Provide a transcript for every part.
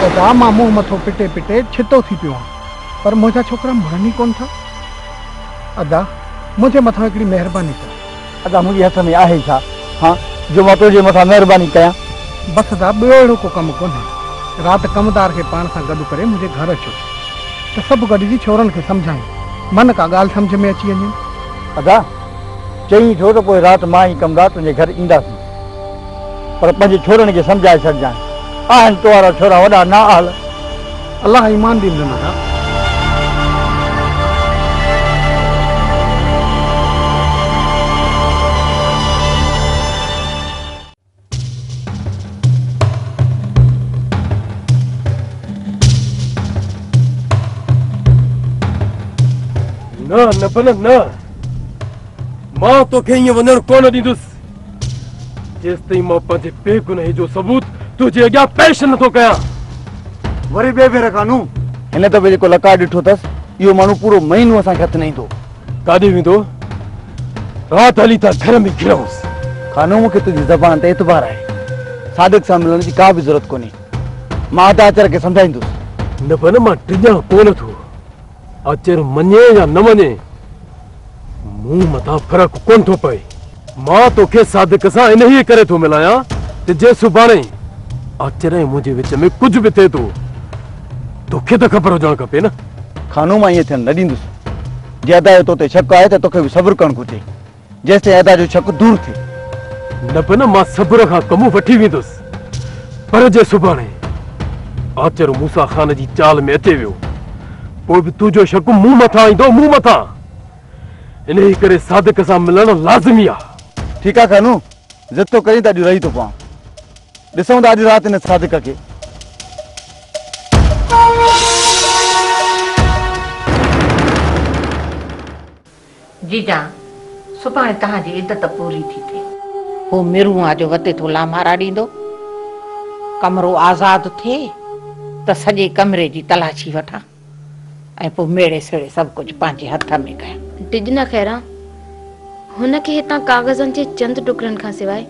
خدا مان منهن مٿو پٽي پٽي ڇتو ٿي پيو آهيان پر منهنجا ڇوڪرا مڙن ئي ڪونه ٿا ادا منهنجي مٿان هڪڙي مهرباني ڪر ادا منهنجي هٿ ۾ آهي ڇا ها جو مان تنهنجي مٿان مهرباني ڪيان. بس ادا ٻيو اهڙو ڪو ڪم ڪونهي. رات ڪمدار کي پاڻ سان گڏ ڪري منهنجي گهر اچو ته سڀ گڏجي ڇورن کي سمجهايون. من ڪا ڳالهه سمجهه ۾ اچي وڃين. ادا چئين ٿو ته پوء رات مان ۽ ڪمدار تنهنجي گهر اينداسين. پر پنهنجي ڇورن کي سمجهائي ڇڏجانء. آهن تو وارا ڇورا وڏا نااهل. الله ايمان ڏيندو نه ڪا. نه نه بنهه نه. مان توکي ائين وڃڻ ڪونه ڏيندس. جيستائين مان پنهنجي بي گناهي جو ثبوت تنهنجي اڳيان پيش نٿو ڪيان وري ٻي ڀيرا ڪانو هن دفعي جيڪو لقاء ڏٺو اٿس اهو ماڻهو پورو مهينو اسان کي هٿ نه ايندو ڪاڏي ويندو رات هلي ٿا گهر ۾ گهرانس خانو مون کي تنهنجي زبان تي اعتبار آهي صادق سان ملڻ جي ڪا به ضرورت ڪونهي مان ادا اچر کي سمجهائيندس نه بنه مان ڊڄان ڪونه ٿو اچر مڃين يا نه مڃين، مون مٿان فرق ڪونه ٿو پئي. مان توکي صادق سان انهيء ڪري ٿو ملايان ته جي سڀاڻي اچر ۽ منهنجي وچ ۾ ڪجهه به ٿئي ٿو، توکي ته خبر هجڻ کپي نه. خانو، مان ائين ٿيڻ نه ڏيندس. جي ادا جو تو تي شڪ آهي ته توکي به صبر ڪرڻ گهرجي. جيستائين ادا جو شڪ دور ٿئي. نه به نه مان صبر کان ڪم وٺي ويندس پر جي سڀاڻي آچر موسيٰ خان جي چال ۾ اچي ويو پوء به تنهنجو شڪ مون مٿان ايندو مون مٿان انهي ڪري صادق سان ملڻ لازمي آ. ٺيڪ آ خانو ضد ٿو ڪرين ته اڄ رهي ٿو پوان ڏسون ٿا اڄ رات هن صادق کي. جيجان، سڀاڻي توهان جي عدت پوري ٿي ٿئي. هو ميرون آ جو وتي ٿو لامارا ڏيندو. ڪمرو آزاد ٿئي ته سڄي ڪمري جي تلاشي وٺان ۽ پوء ميڙي سيڙي سڀ ڪجهه پنهنجي هٿ ۾ ڪيان. ڊڄنا خيران، هن کي هتان ڪاغذن جي چند ٽڪرن کان سواء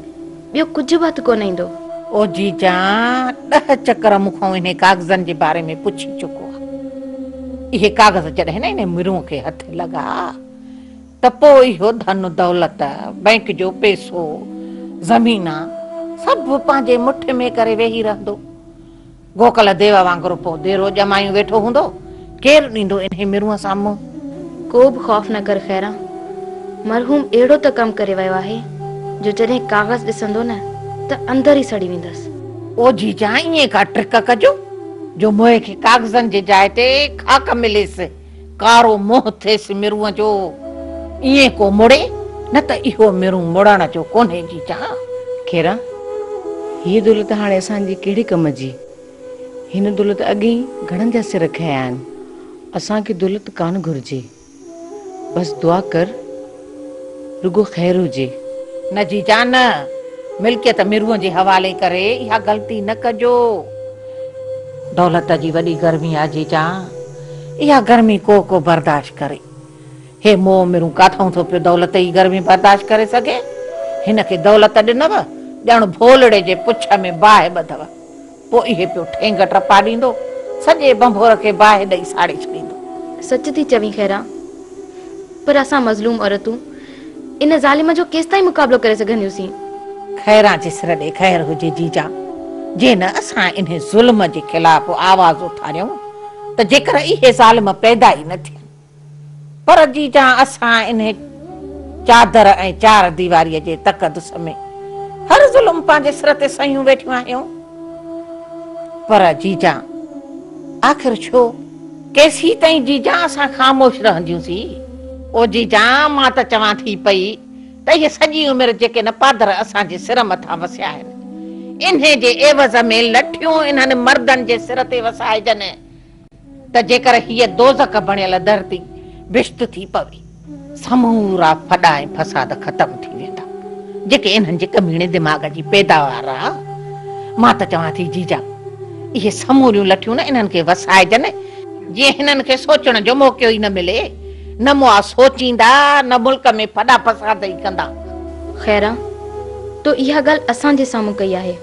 ٻيو ڪجهه به هٿ ڪونه ايندو. او جي جان، ڏهه چڪر مون کان انهي ڪاغذن جي باري ۾ پڇي چڪو آ. اهي ڪاغذ جڏهن نه انهي مرونء کي هٿ لڳا ته پوء اهو ڌن و دولت، بئنڪ جو پئسو، زمينان، سڀ پنهنجي مٺ ۾ ڪري ويهي رهندو. گوڪل ديو وانگر پوء ديرو ڄمايون ويٺو هوندو، ڪير ڏيندو انهي مرونء سان منهن؟ ڪو به خوف نه ڪر خيران، مرحوم اهڙو ته ڪم ڪري ويو آهي جو جڏهن ڪاغذ ڏسندو نه ته اندر ئي سڙي ويندس. او جيجان ائين ڪا ٽرڪ ڪجو جو موهي کي ڪاغذن جي جاء تي خاڪ مليس. ڪارو منهن ٿئيس مرونء جو، ايئن ڪو مڙي، نه ته اهو مرون مڙڻ جو ڪونهي جي جان. کيرا، هيء دولت هاڻي اسان جي ڪهڙي ڪم جي؟ هن دولت اڳ ئي گهڻن جا سر کنيا آهن. اسان کي دولت ڪانه گهرجي. بس دعا ڪر. رڳو خير هجي. نه جي جان نه. ملڪيت مرونء جي حوالي ڪري اها غلطي نه ڪجو. دولت جي وڏي گرمي آ جي جان. اها گرمي ڪو ڪو برداشت ڪري. هي مئو مرون ڪاٿئون ٿو پيو دولت ئي گرمي برداشت ڪري سگهي. هن کي دولت ڏنؤ ڄڻ ڀولڙي جي پڇ ۾ باهه ٻڌو. پوء اهي پيو ٺينگ ٽپا ڏيندو. سڄي ڀنڀور کي باهه ڏئي ساڙي ڇڏيندو. سچ ٿي چوين خيران، پر اسان مظلوم عورتون ان ظالم جو ڪيستائين مقابلو ڪري سگهنديونسين؟ خيران جي سر ڏي خير هجي جيجا، جي نه اسان انهي ظلم جي خلاف آواز اٿاريون ته جيڪر اهي ظالم پيدا ئي نه ٿين. پر جي جان اسان انهي چادر ۽ چار ديواريء جي تقدس ۾ هر ظلم پنهنجي سر تي سهيون ويٺيون آهيون. پر جي جان آخر ڇو؟ ڪيسين تائين جي جان اسان خاموش رهنديون سي؟ او جي جان مان ته چوان ٿي پئي ته اهي سڄي عمر جيڪي نه پادر اسان جي سر مٿان وسيا آهن انهي جي عيوض ۾ لٺيون انهن مردن جي سر تي وسائجن. ته جيڪر هيء دوزخ بڻيل ڌرتي بهشت ٿي پوي، سمورا ڦڏا ۽ فساد ختم ٿي ويندا، جيڪي انهن جي ڪميڻي دماغ جي پيداوار آ. مان ته چوان ٿي جيجا، اهي سموريون لٺيون نه انهن کي وسائجن، جيئن هنن کي سوچڻ جو موقعو ئي نه ملي. نه مئا سوچيندا، نه ملڪ ۾ ڦڏا فساد ئي ڪندا. خيرا، تو اها ڳالهه اسان جي سامهون ڪئي آهي.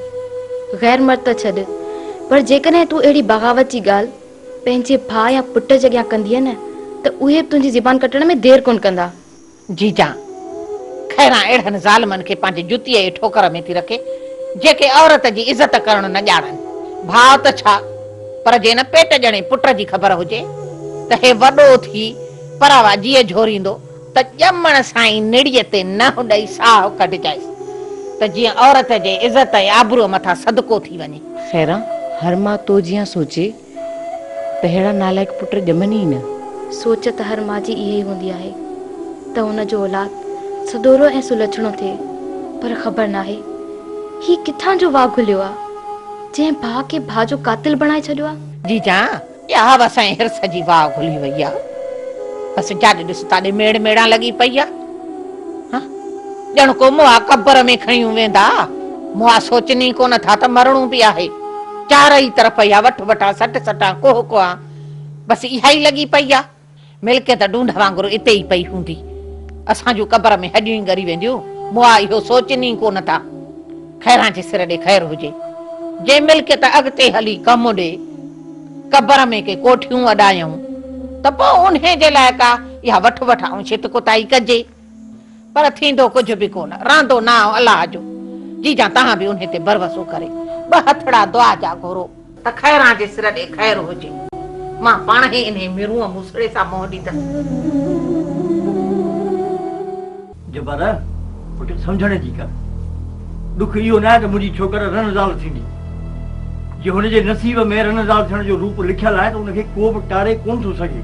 غير مرد ته ڇڏ، پر جيڪڏهن تون اهڙي بغاوت جي ڳالهه پنهنجي ڀاء يا پٽ جي اڳيان ڪندينء نه ته اهي به تنهنجي زبان ڪٽڻ ۾ دير ڪونه ڪندا. جي جان، خيرا اهڙن ظالمن کي پنهنجي جتيء جي ٺوڪر ۾ ٿي رکي، جيڪي عورت جي عزت ڪرڻ نه ڄاڻن. ڀاء ته ڇا! پر جي ان پيٽ ڄڻي پٽ جي خبر هجي ته هي وڏو ٿي پراوا جيء جهوريندو ته ڄمڻ سان ئي نڙيء تي ننهن ڏئي ساهه ڪڍجائيس ته جيئن عورت جي عزت ۽ آبروء مٿان صدقو ٿي وڃي. خيرا! هر ماء تو جيان سوچي ته اهڙا نالائق پٽ ڄمن ئي نه. سوچ ته هر ماء جي اهي ئي هوندي آهي ته هن جو اولاد سدورو ۽ سلڇڻو ٿئي پر خبر ناهي هي ڪٿان جو واء گهليو آ. جنهن ڀاء کي ڀاء جو قاتل بڻائي ڇڏيو آ. جي جان ياهو اسانجي حرص جي واء گهلي وئي آ بس جاڏي ڏس تاڏي ميڙ ميڙان لڳي پئي آ ها ڄڻ ڪو مئا قبر ۾ کڻيون ويندا مئا سوچن ئي ڪونه ٿا ته مرڻو به آهي چارئي طرف اها وٺ وٺان سٽ سٽان ڪوهه ڪوهان بس اها ئي لڳي پئي آ. ملڪيت ڍونڍ وانگر اتي ئي پئي هوندي. اسان جون قبر ۾ هڏيون ئي ڳري وينديون. مون آء اهو سوچين ئي ڪو نه ٿا. خيران جي سر ڏي خير هجي. جي ملڪيت اڳتي هلي ڪم ڏي، قبر ۾ ڪي ڪوٺيون اڏايئون ته پوء انهي جي لاء ڪا اها وٺ وٺ ۽ ڇت ڪتائي ڪجي. پر ٿيندو ڪجهه به ڪونه، رهندو نانء الله جو. جيجان تهان به انهي تي ڀروسو ڪري ٻه هٿڙا دعا جا گهرو. ته خيران جي سر ڏي خير هجي. مان پاڻهي انهي مرونء موسڙي سان منهن ڏيندس. جبر، پٽ سمجهڻ جي ڪر. ڏک اهو ناهي ته منهنجي ڇوڪر رن زال ٿيندي. جي هن جي نصيب ۾ رن زال ٿيڻ جو روپ لکيل آهي ته ان کي ڪو به ٽاري ڪونه ٿو سگهي.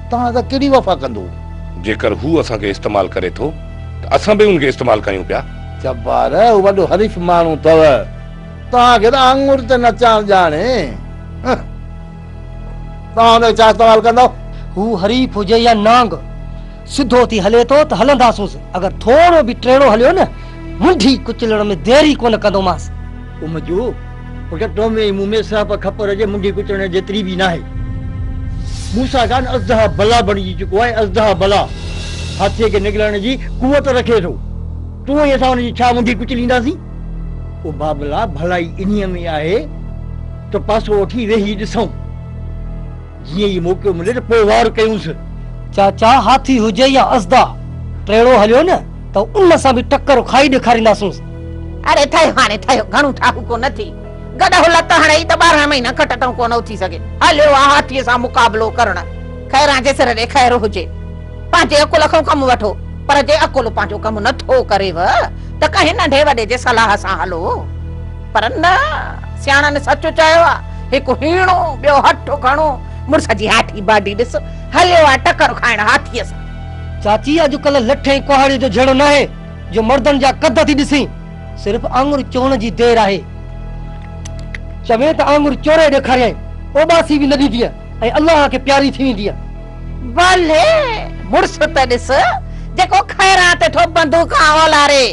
توهان اسان ڪهڙي وفا ڪندو؟ جيڪر هو اسان کي استعمال ڪري ٿو ته اسان به ان کي استعمال ڪيون پيا. جبار، هو وڏو حريف ماڻهو اٿو، توهان کي ته آڱر تي نچڻ ڄاڻي. توهان ان کي ڇا استعمال ڪندو؟ هو حريف هجي يا نانگ، سڌو ٿي هلي ٿو ته هلنداسونس، اگر ٿورو به ٽيڙو هليو نه، منڍي ڪچلڻ ۾ دير ئي ڪونه ڪندومانس. ڪم جو فقط تو ۾ ۽ مون ۾ سهپ کپر جي منڍي ڪترڻ جيتري به ناهي. موسيٰ کان اژدها بلا بڻجي چڪو آهي. اژدها بلا هاٿيء کي نگلڻ جي قوت رکي ٿو. تون ۽ اسان ان جي ڇا منڍي ڪچلينداسين؟ او بابلا، ڀلائي انهيء ۾ آهي ته پاسو وٺي ويهي ڏسون. جيئن ئي موقعو ملي ته پوء وار ڪيونس. چاچا هاٿي هجي يا اسدا ٽيڙو هليو نه ته ان سان به ٽڪر کائي ڏيکارينداسونس. اڙي ٿيو هاڻي ٿيو گهڻو ٺاهوڪو نه ٿي. گڏهه لت هڻئي ته ٻارهن مهينا کٽ تئون ڪونه اٿي سگهي. هليو آ هاٿيء سان مقابلو ڪرڻ. خيران جي سر ڏي خير هجي. پنهنجي عقل کان ڪم وٺو. پر جي عقل پنهنجو ڪم نه ٿو ڪريو ته ڪنهن ننڍي وڏي جي صلاح سان هلو. پر نه، سياڻن سچ چيو آ، هڪ هيڻو، ٻيو هٺ گهڻو، مڙس جي هاٺي باڊي ڏس، هليو آ ٽڪر کائڻ هاٿيء سان. چاچي اڄڪلهه لٺ ۽ ڪهاڙي جو جهيڙو ناهي جو مردن جا قد ٿي ڏسين، صرف آڱر چوڻ جي دير آهي. چوين ته آڱر چوري ڏيکاريائين، اوٻاسي به نه ڏيندينء ۽ الله کي پياري ٿي ويندينء. بلي! مڙس ته ڏس، جيڪو خيران تي ٿو بندوقان اولاري،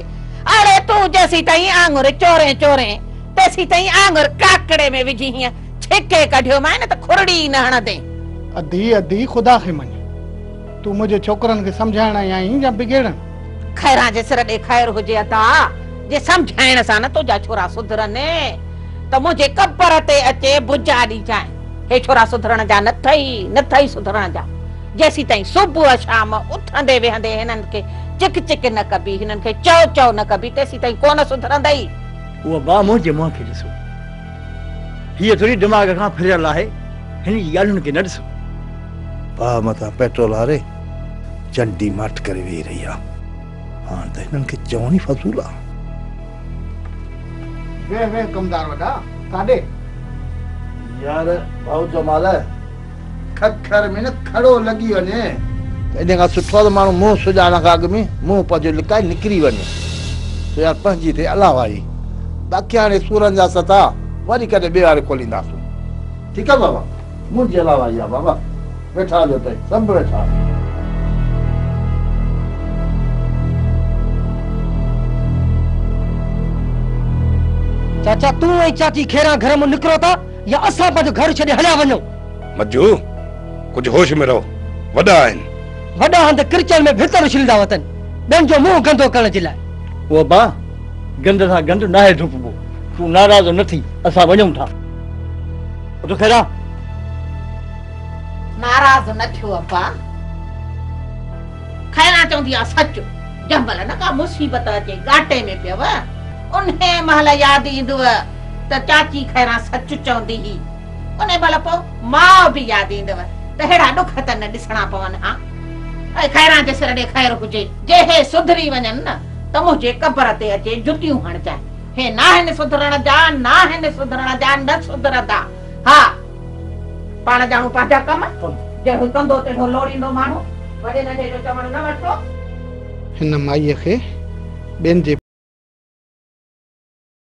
اڙي تون جيسيتائين آڱر چورين چورين تيسيتائين آڱر ڪاڪڙي ۾ وجهي هينئن ڇڪي ڪڍيومانء ته کورڙي ئي نه هڻندين. ادي ادي خدا کي مڃ. تون منهنجي ڇوڪرن کي سمجهائڻ آئي آهين يا بگيڙڻ. خيران جي سر ڏي خير هجي ادا جي سمجهائڻ سان نه تنهنجا ڇورا سڌرن ته منهنجي قبر تي اچي بجا ڏيجانء هي ڇورا سڌرڻ جا نه ٿئي نه ٿئي سڌرڻ جا. جيسيتائين صبح شام اٿندي ويهندي هنن کي چڪ چڪ نه ڪبي، هنن کي چئو چئو نه ڪبي، تيسيتائين ڪونه سڌرندئي. اهو ڀاء منهنجي منهن کي ڏسو. هيء ٿوري دماغ کان ڦريل آهي، هن جي ڳالهين کي نه ڏسو. ڀاء مٿان پيٽرول هاري چنڊي ماٺ ڪري ويهي رهي آ. هاڻ ته هنن کي چوڻ ئي فضول آ. ويهه ويهه ڪمدار وڏا، ڪاڏي؟ يار ڀائو جمال! ککر ۾ نه کڙو لڳي وڃي. ان کان سٺو آهي ته ماڻهو منهن سڄاڻڻ کان اڳ ۾ منهن پنهنجو لڪائي نڪري وڃي سو يار پنهنجي ٿئي الله وائي. باقي هاڻي سورن جا سٿا وري ڪڏهن ٻئي واري کولينداسون. ٺيڪ آ بابا منهنجي الله وائي آ بابا ويٺا هجو تئي سڀ ويٺا. چاچا تون ۽ چاچي کيران گهر مون نڪرو ٿا. يا اسان پنهنجو گهر ڇڏي هليا وڃون. مجو، ڪجهه هوش ۾ رهو، وڏا آهن. وڏا هنڌ ڪرچڻ ۾ ڀتر اڇليندا وتن، ٻين جو منهن گندو ڪرڻ جي لاء. وهبا، گند سان گند ناهي ڌوپبو، تون ناراض نه ٿي، اسان وڃون ٿا. اٿو خيرا. ناراض نه ٿيو ابا. خيرا چوندي آ سچ، جنهن مهل نه ڪا مصيبت اچي، ڳاٽي ۾ پيو، انهيء مهل ياد ايندوء. ته چاچي خيران سچ چوندي هئي. انهي مهل پوء ماء به ياد ايندو ته ههڙا ڏک ته نه ڏسڻا پون ها. اي خيران جي سر ڏي خير هجي. جي هي سڌري وڃن نه ته منهنجي قبر تي اچي جتيون هڻجانء. هي ناهن سڌرڻ جا، ناهن سڌرڻ جا، نه سڌرندا. ها! پاڻ ڄاڻون پنهنجا ڪم. جهڙو ڪندو تهڙو لوڙيندو ماڻهو. وڏي ننڍي جو چوڻ نه وٺبو. هن مائيء کي ٻين جي.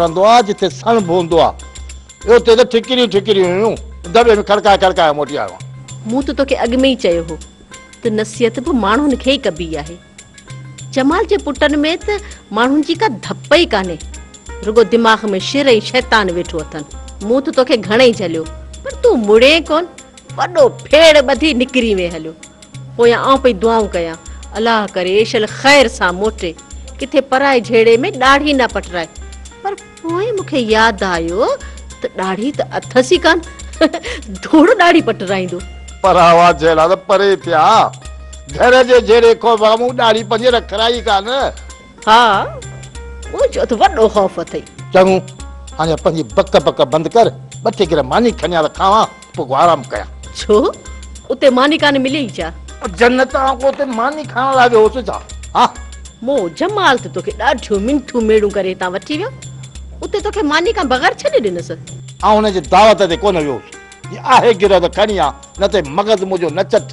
رهندو آ، جتي سڻڀ هوندو آ، اتي ته ٺڪريون ئي ٺڪريون هيون، دٻي ۾ کڙڪائي کڙڪائي موٽي آيو آهيان. مون ته توکي اڳ ۾ ئي چيو هو ته نصيحت به ماڻهن کي ئي ڪبي آهي. جمال جي پٽن ۾ ته ماڻهن جي ڪا ڌپ ئي ڪانهي، رڳو دماغ ۾ شر ۽ شيطان ويٺو اٿن. مون ته توکي گهڻئي جهليو، پر تون مڙين ڪونه، وڏو ڦيڙ ٻڌي نڪري وئين. هليو پويان آئون پئي دعائون ڪيان، الله ڪري ايشل خير سان موٽي، ڪٿي پرائي جهيڙي ۾ ڏاڙهي نه پٽرائي. پر پوء مون کي ياد آيو ته ڏاڙهي ته اٿس ئي ڪانه، ڌوڙ ڏاڙهي پٽرائيندو. پراوا جهيڙا ته پري پيا، گهر جي جهيڙي کان به مون ڏاڙهي پنهنجي رکرائي ڪانه. ها مون چيو ته وڏو خوف اٿئي. چڱو هاڻي پنهنجي بڪ بڪ بند ڪر ٻه ٽي گر ماني کڻي آ ته کاوان پوء ڪو آرام ڪيان. ڇو اتي ماني ڪانه ملي ئي ڇا؟ جنت آئون ڪو اتي ماني کائڻ لاء ويو هوس ڇا؟ ها. مون جمال ته توکي ڏاڍيون منٿون ميڙون ڪري هتان وٺي ويو اتي توکي ماني کان بغير ڇڏي ڏنس. آئون هن جي دعوت تي ڪونه ويو هوس جي آهي گر ته کڻي آ نه ته مغز منهنجو نه چٽ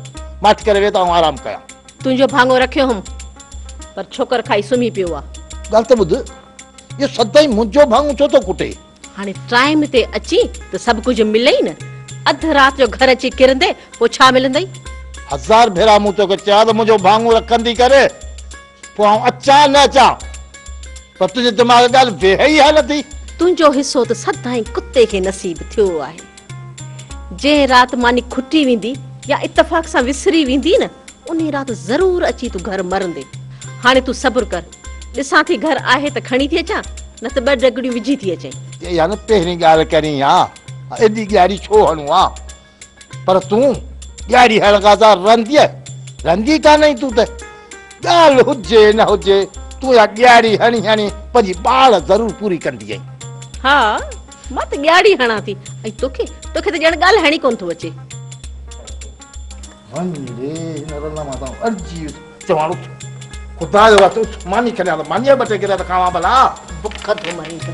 ماٺ ڪري ويهه ته آئون آرام ڪيان. تنهنجو ڀاڱو رکيو هوم، پر ڇوڪر کائي سمهي پيو آ. ڳالهه ته ٻڌ، اهو سدائين منهنجو ڀاڱو ڇو ٿو ڪٽي؟ هاڻي ٽائيم تي اچين ته سڀ ڪجهه ملئي نه، اڌ رات جو گهر اچي ڪرندي پوء ڇا ملندئي؟ هزار ڀيرا مون توکي چيو آ ته منهنجو ڀاڱو رکندي ڪر، پوء آئون اچان نه اچان، پر تنهنجي دماغ ڳالهه ويهي ئي ها نٿي. تنهنجو حصو ته سدائين ڪتي کي نصيب ٿيو آهي. جنهن رات ماني کٽي ويندي يا اتفاق سان وسري ويندي نه انهي رات ضرور اچي تون گهر مرندي. هاڻي تون صبر ڪر. ڏسان ٿي گهر آهي ته کڻي ٿي اچان نه ته ٻه ڊگڙيون وجهي ٿي اچين. اها نه پهرين ڳالهه ڪرين ها. ايڏي ڏياري ڇو هڻون ها. پر تون ڏياري هڻڻ کان سواء رهنديء؟ رهندي ڪانهين تون ته. ڳالهه هجي نه هجي تون اها ڏياري هڻي هڻي پنهنجي ٻاڙ ضرور پوري ڪندينء. ها. مان ته ڳياڙي هڻان ٿي ۽ توکي توکي ته ڄڻ ڳالهائڻ ئي ڪونه ٿو اچي. وڃ ري هن رلا مان تان ارجي چوان اٿ خدا جو واسطو اٿ ماني کڻي آ ته مانيء جا ٻه ٽي گريا ته کاوان ڀلا. بک ٿو مرين ته.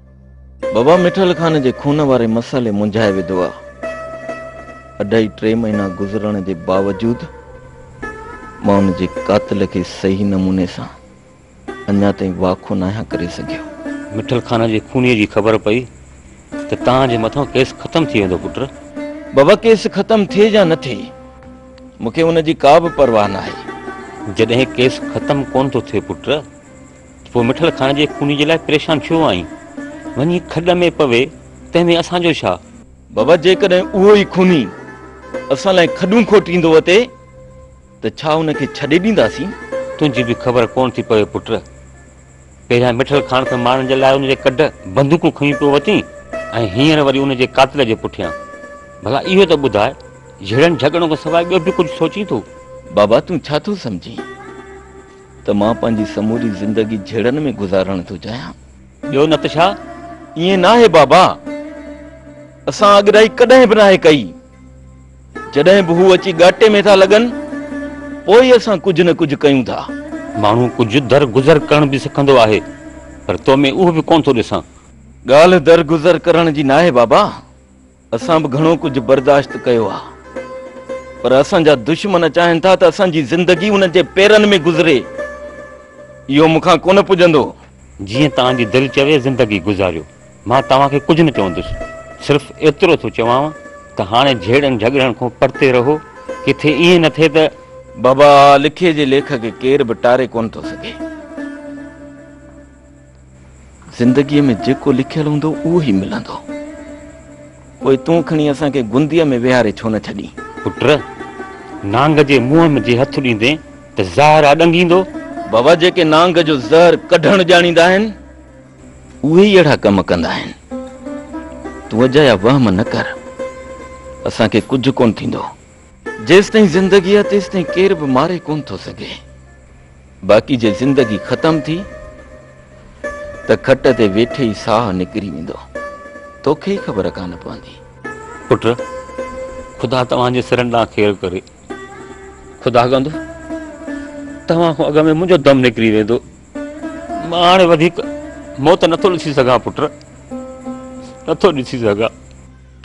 بابا مٺل خان جي خون واري مسئلي منجهائي وڌو آ. اڍائي ٽي مهينا گذرڻ جي باوجود مان ان جي قاتل کي صحيح نموني سان اڃا تائين واکو ناهيان ڪري سگهيو. مٺل خان جي خونيء جي خبر پئي ته توهان جي مٿان ڪيس ختم ٿي ويندو پٽ. بابا ڪيس ختم ٿئي يا نه ٿئي مون کي ان جي ڪا به پرواهه ناهي. جڏهن ڪيس ختم ڪونه ٿو ٿئي پٽ پوء مٺل خان جي خوني جي لاء پريشان ڇو آهين؟ وڃي کڏ ۾ پوي، تنهن ۾ اسان جو ڇا؟ بابا جيڪڏهن اهو ئي خوني اسان لاء کڏون کوٽيندو اتي ته ڇا ان کي ڇڏي ڏينداسين؟ تنهنجي به خبر ڪونه ٿي پوي پٽ. پهريان مٺل خان کي مارڻ جي لاء ان جي ڪڍ بندوقون کنيون پيو وتين ۽ هينئر وري ان جي قاتل جي پٺيان. ڀلا اهو ته ٻڌاء، جهيڙن جهڳڙن کان سواء ٻيو به ڪجهه سوچين ٿو؟ بابا تون ڇا ٿو سمجهين؟ ته مان پنهنجي سموري زندگي جهيڙن ۾ گذارڻ ٿو چاهيان. ٻيو نه ته ڇا؟ ائين ناهي بابا، اسان اڳرائي ڪڏهن به ناهي ڪئي. جڏهن به هو اچي ڳاٽي ۾ ٿا لڳن، پوء ئي اسان ڪجهه نه ڪجهه ڪيون ٿا. ماڻهو ڪجهه در گذر ڪرڻ به سکندو آهي، پر تو ۾ اهو به ڪونه ٿو ڏسان. ڳالهه در گذر ڪرڻ جي ناهي بابا، اسان به گهڻو ڪجهه برداشت ڪيو آ پر اسان جا دشمن چاهن ٿا ته اسان جي زندگي انهن جي پيرن ۾ گذري اهو مون کان ڪونه پڄندو. جيئن توهان جي دل چوي زندگي گذاريو مان توهان کي ڪجهه نه چوندس صرف ايترو ٿو چوانو ته هاڻي جهيڙن جهڳڙن کون پرتي رهو ڪٿي ائين نه ٿئي ته بابا لکي جي ليک کي ڪير به ٽاري ڪونه ٿو سگهي. زندگيء ۾ جيڪو لکيل هوندو اهو ئي ملندو. پوء تون کڻي اسان کي گنديء ۾ ويهاري ڇو نه ڇڏين؟ پٽ! نانگ جي منهن ۾ جي هٿ ڏيندين ته زهر اڏنگيندو؟ بابا جيڪي نانگ جو زهر ڪڍڻ ڄاڻيندا آهن، اهي ئي اهڙا ڪم ڪندا آهن. تون اجايا وهم نه ڪر. اسان کي ڪجهه ڪونه ٿيندو. جيستائين زندگي آ تيستائين ڪير به ماري ڪون ٿو سگهي باقي جي زندگي ختم ٿي ته کٽ تي ويٺي ئي ساهه نڪري ويندو توکي ئي خبر ڪانه پوندي. پٽ! خدا توهان جي سرن ڏانهن خير ڪري. خدا ڪندو توهان کان اڳ ۾ منهنجو دم نڪري ويندو. مان هاڻي وڌيڪ موت نٿو ڏسي سگهان پٽ، نٿو ڏسي سگهان.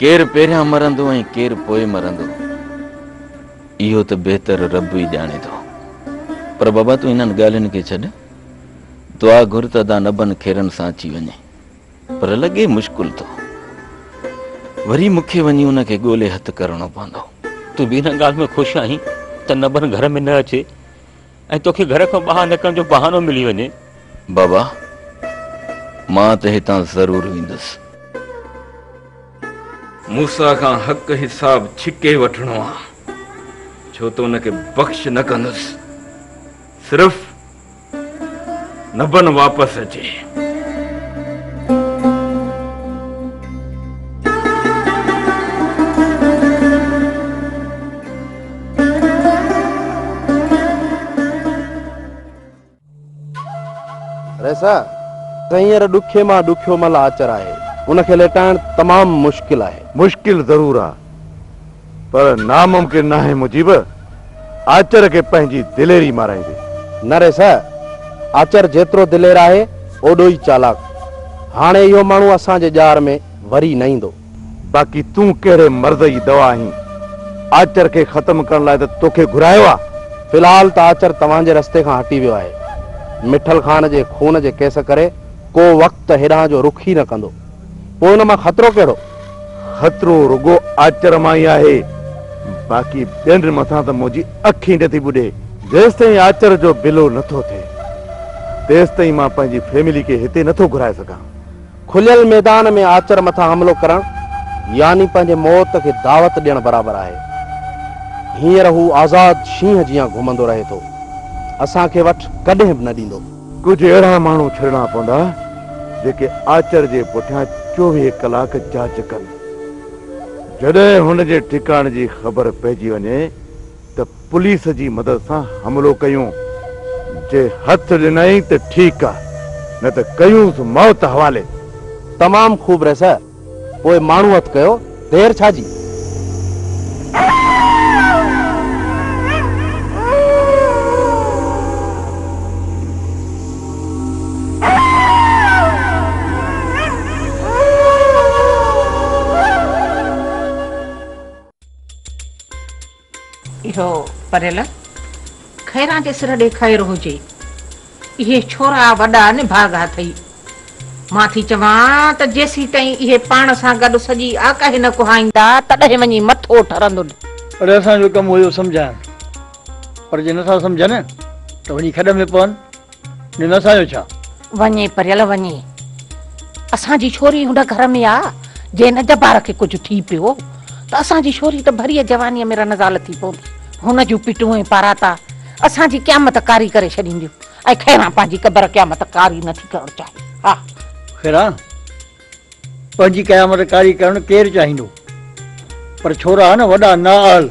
ڪير پهريان مرندو ۽ ڪير پوء مرندو اهو ته بهتر رب ئي ڄاڻي ٿو. پر بابا تون انهن ڳالهين کي ڇڏ، دعا گهر ته ادا نبن کيرن سان اچي وڃي. پر لڳي مشڪل ٿو. وري مون کي وڃي ان کي ڳولي هٿ ڪرڻو پوندو. تون به ان ڳالهه ۾ خوش آهين ته نبن گهر ۾ نه اچي. ۽ توکي گهر کان ٻاهر نڪرڻ جو بهانو ملي وڃي. بابا، مان ته هتان ضرور ويندس. موسيٰ کان حق حساب ڇڪي وٺڻو آ، ڇو ته ان کي بخش نه ڪندس، صرف نبن واپس اچي. رئيسا، ته هينئر ڏکي مان ڏکيو مل آچر آهي. ان کي ليٽائڻ تمام مشڪل آهي. مشڪل ضرور آ، پر ناممڪن ناهي مجيب، آچر کي پنهنجي دليري مارائيندي. نه رئيسا، آچر جيترو دلير آهي اوڏو ئي چالاڪ. هاڻي اهو ماڻهو اسان جي ڄار ۾ وري نه ايندو. باقي تون ڪهڙي مرض جي دوا آهين؟ آچر کي ختم ڪرڻ لاء ته توکي گهرايو آ. في الحال ته آچر توهان جي رستي کان هٽي ويو آهي. مٺل خان جي خون جي ڪيس ڪري ڪو وقت هيڏانهن جو رخ ئي نه ڪندو. پوء ان مان خطرو ڪهڙو؟ خطرو رڳو آچر مان ئي آهي. باقي ٻين مٿان ته منهنجي اک ئي نٿي ٻڏي. جيستائين آچر جو بلو نٿو ٿئي، تيستائين مان پنهنجي فيملي کي هتي نٿو گهرائي سگهان. کليل ميدان ۾ آچر مٿان حملو ڪرڻ يعني پنهنجي موت کي دعوت ڏيڻ برابر آهي. هينئر هو آزاد شينهن جيان گهمندو رهي ٿو. اسان کي وٺ ڪڏهن به نه ڏيندو. ڪجهه اهڙا ماڻهو ڇڏڻا پوندا جيڪي آچر جي پٺيان چوويهه ڪلاڪ جاچ ڪن. جڏهن هن جي ٺڪاڻي جي خبر پئجي وڃي ته پوليس جي مدد سان حملو ڪيون، جي هٿ ڏنائين ته ٺيڪ آ، نه ته ڪيونس موت حوالي. تمام خوب رئيس، پوء ماڻهو هٿ ڪيو، دير ڇا جي؟ اهو پريل خيران جي سر ڏي خير هجي. اهي ڇورا وڏا نڀاڳا اٿئي. مان ٿي چوان ته جيسيتائين اهي پاڻ سان گڏ سڄي آڪاهي نه ڪهائيندا تڏهن وڃي مٿو ٺرندن. اڙي اسان جو ڪم هو اهو سمجهائڻ پر جي نٿا سمجهن ته وڃي کڏ ۾ پون. ني نه سايو ڇا؟ وڃي پريل وڃي. اسان جي ڇوري هن گهر ۾ آ، جي هن جبار کي ڪجهه ٿي پيو ته اسان جي ڇوري ته ڀريء جوانيء ۾ رنزال ٿي پوندي. هن جون پٽون ۽ پاراتا اسان جي قيامت ڪاري ڪري ڇڏينديون ۽ خيران پنهنجي قبر قيامت ڪاري نه ٿي ڪرڻ چاهي. ها! خيران! پنهنجي قيامت ڪاري ڪرڻ ڪير چاهيندو؟ پر ڇورا نه وڏا نااهل،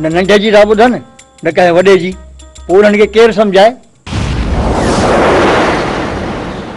نه ننڍي جي ٿا ٻڌن، نه ڪنهن وڏي جي، پوء انهن کي ڪير سمجهائي؟